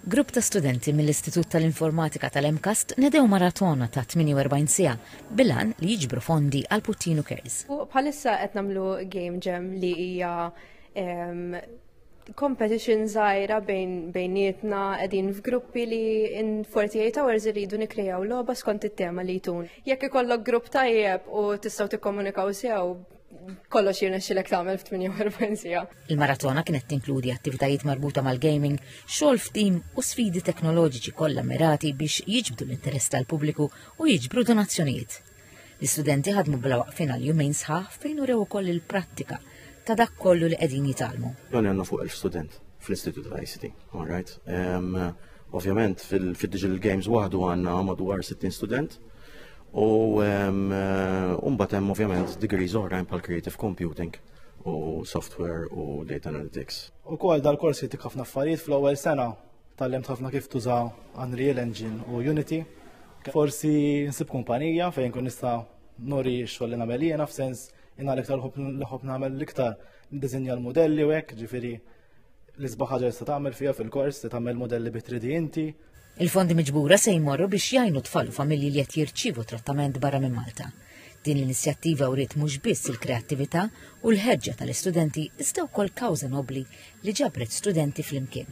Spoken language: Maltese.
Grupp ta' studenti mill-Istitut tal-Informatika tal-MCAST nedew maratona ta' 48 siegħa bil-għan li jiġbru fondi għal Puttinu Cares. Bħalissa qed nagħmlu game jam li hija competition żgħira bejn bejnietna qegħdin f'gruppi li in 48 hours irridu nikkrejaw logħba skont it-tema li jtun. Jekk ikollok grupp tajjeb u tistgħu tikkomunikaw sew kollox jirnexxilek tagħmel f'48 sija. Il-maratona kienet tinkludi attivitajiet marbuta mal-gaming, xogħol f'tim u sfidi teknoloġiċi kollha mirati biex jiġbdu l-interess tal-pubbliku u jiġbru donazzjonijiet. L-istudenti ħadmu bla waqfin għal jumejn sħaħ fejn urew ukoll il-prattika ta' dak kollu li qegħdin jitgħallmu. Dan għandna fuq il-student fl-Istitut tal-ICT, all right? Ovvjament fil-Digital Games waħdu għandna madwar 60 student U mbagħad hemm ovvjament degrees oħrajn bħal creative computing u software u data analytics. U kol dal-korsi tik ħafna affarijiet fl-ewwel sena tal-lemt ħafna kif tuża Unreal Engine u Unity. Forsi nsib kumpanija fejn kun nista' nori xogħol li nagħmel jiena f'sens inna l-iktar l-ħob nagħmel l-iktar dizinja l-modelli u hekk, ġifieri l-isbaħ ħaġa tista' tagħmel fiha fil-kors, tagħmel modelli bi 3D inti, Il-fondi miġbura se jmorru biex jgħinu tfal u familji li qed jirċievu trattament barra minn Malta. Din l-inizjattiva wriet mhux biss il-kreattività u l-ħeġġa tal-istudenti iżda wkoll kawża nobbli li ġabret studenti flimkien.